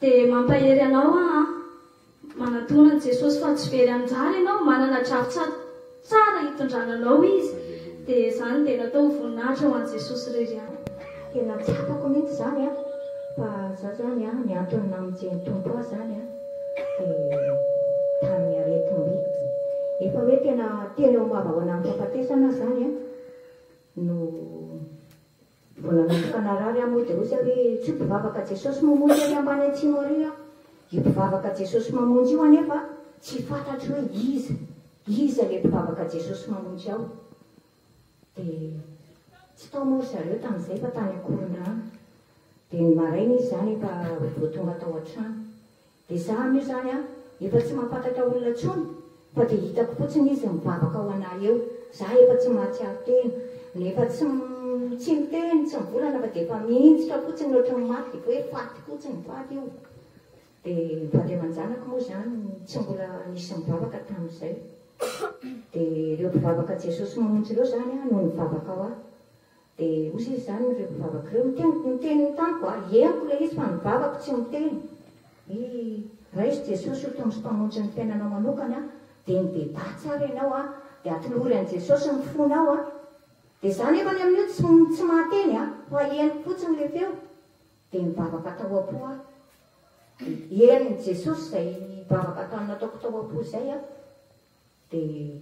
Dia mampahery anao aho an! Manatona an'i Jesosy fa tsy very anjara ianao, manana drafitsa tsara hitondrana anao Izy, dia izany dia natao ho voninahitra ho an'i Jesosy irery ihany. Tena tsy hitako mihitsy izany an! Fa za zany an, ny antony namonjy ny Tompo ahy zany an, dia tamin'ny aretim-by, efa hoe tena teny eo am-bavahoana am-pahafatesana aho zany an, no. Mbola natokana rary aho mody roza hoe tsy ho mpivavaka Jesosy mamonjy ary ambany atsimo ary aho. Io mpivavaka Jesosy mamonjy io anefa tsy fantatro hoe iza, iza le mpivavaka Jesosy mamonjy ao? Dia tsy tao moa ry zareo tamin'izay fa tany Ankorondrano. Dia ny maraina izy zany efa vao tonga tao an-trano. Dia za anie zany an efa tsy mampatatra olona tsony fa dia hitako fotsiny izy mivavaka ho anah eo, za efa tsy mahatsiaro tena, na efa tsy tsy miteny, tsy mivolana fa dia efa mihintsitra fotsiny ohatry ny maty dia hoe faty fotsiny, faty io. Dia ny vady aman-janako moa zany tsy mbola nisy nivavaka tamin'izay. Dia ireo mpivavaka Jesosy mamonjy ireo zany an no nivavaka ho ahy. Dia hozy izy izany ireo mpivavaka ireo, Miteny ny teniny tamiko aho. Henoko ilay izy fa ny vavako tsy miteny. I, Raiso Jesosy ho Tompo sy Mpamonjy ny fiainanao manokana, dia mibedaha tsara ianao an, dia atolory an'i Jesosy ny fonao an. Dia izaho nefany amin'io tsy, tsy mahateny an, fa henoko fotsiny ilay feo. Dia nivavaka tao am-po aho. Dia henon'i Jesosy izay vavaka nataoko tao am-po izay an. Dia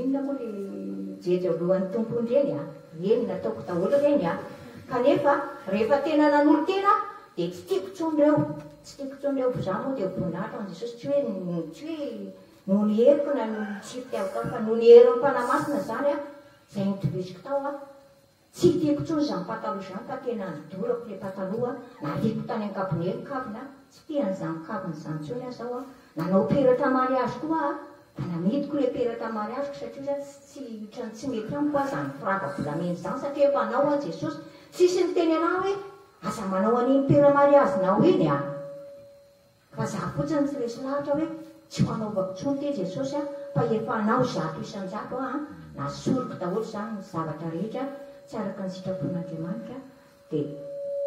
Inona moa ry jejy ao lohan'ny Tompo hono ireny a! Eny nataoko daholo ireny a! Kanefa rehefa tena nanolo-tena aho dia tsy tiako intsony ireo, tsy tiako intsony ireo, fa za moa dia ho boninahitra ho an'i Jesosy tsy hoe tsy hoe noho ny heriko na noho ny tsy fitiavako ahy fa noho ny herin'ny Fanahy Masina izany a! izay notohiziko tao a! Tsy tiako intsony izany pataloha izany ka tena nodorako ilay pataloha nariako tany ankabone ny kaviny aho tsy te an'izany kaviny izany intsony aho zao aho nanao peratra mariazy koa aho ka namidiko ilay peratra mariaziko satria za tsy tsy otrany tsy mety amiko aho izany firava volamena izany satria efa anao aho jesosy tsisy niteny anah hoe aza manao an'iny pera mariazinao iny a! Fa za fotsiny no tsy resy lahatra hoe tsy ho anaovako tsony ty Jesosy a, fa efa anao zato isan-jato aho a, na soriko daholo zany ny zavatra rehetra tsy araka ny sitrapon'Andriamanitra de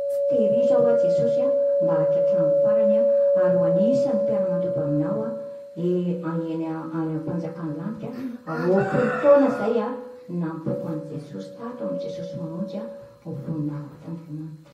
tsy tehirizo aho a Jesosy a, mba hatratramin'ny farany a, ary ho anisan'ny mpiara-mandoba aminao a, e any eny any am-panjakan'ny lanitra a, aoa folo taona zay a, ny nampoako an'i Jesosy tato amin'i Jesosy mamonjy a, ho voninahitra Andriamanitra.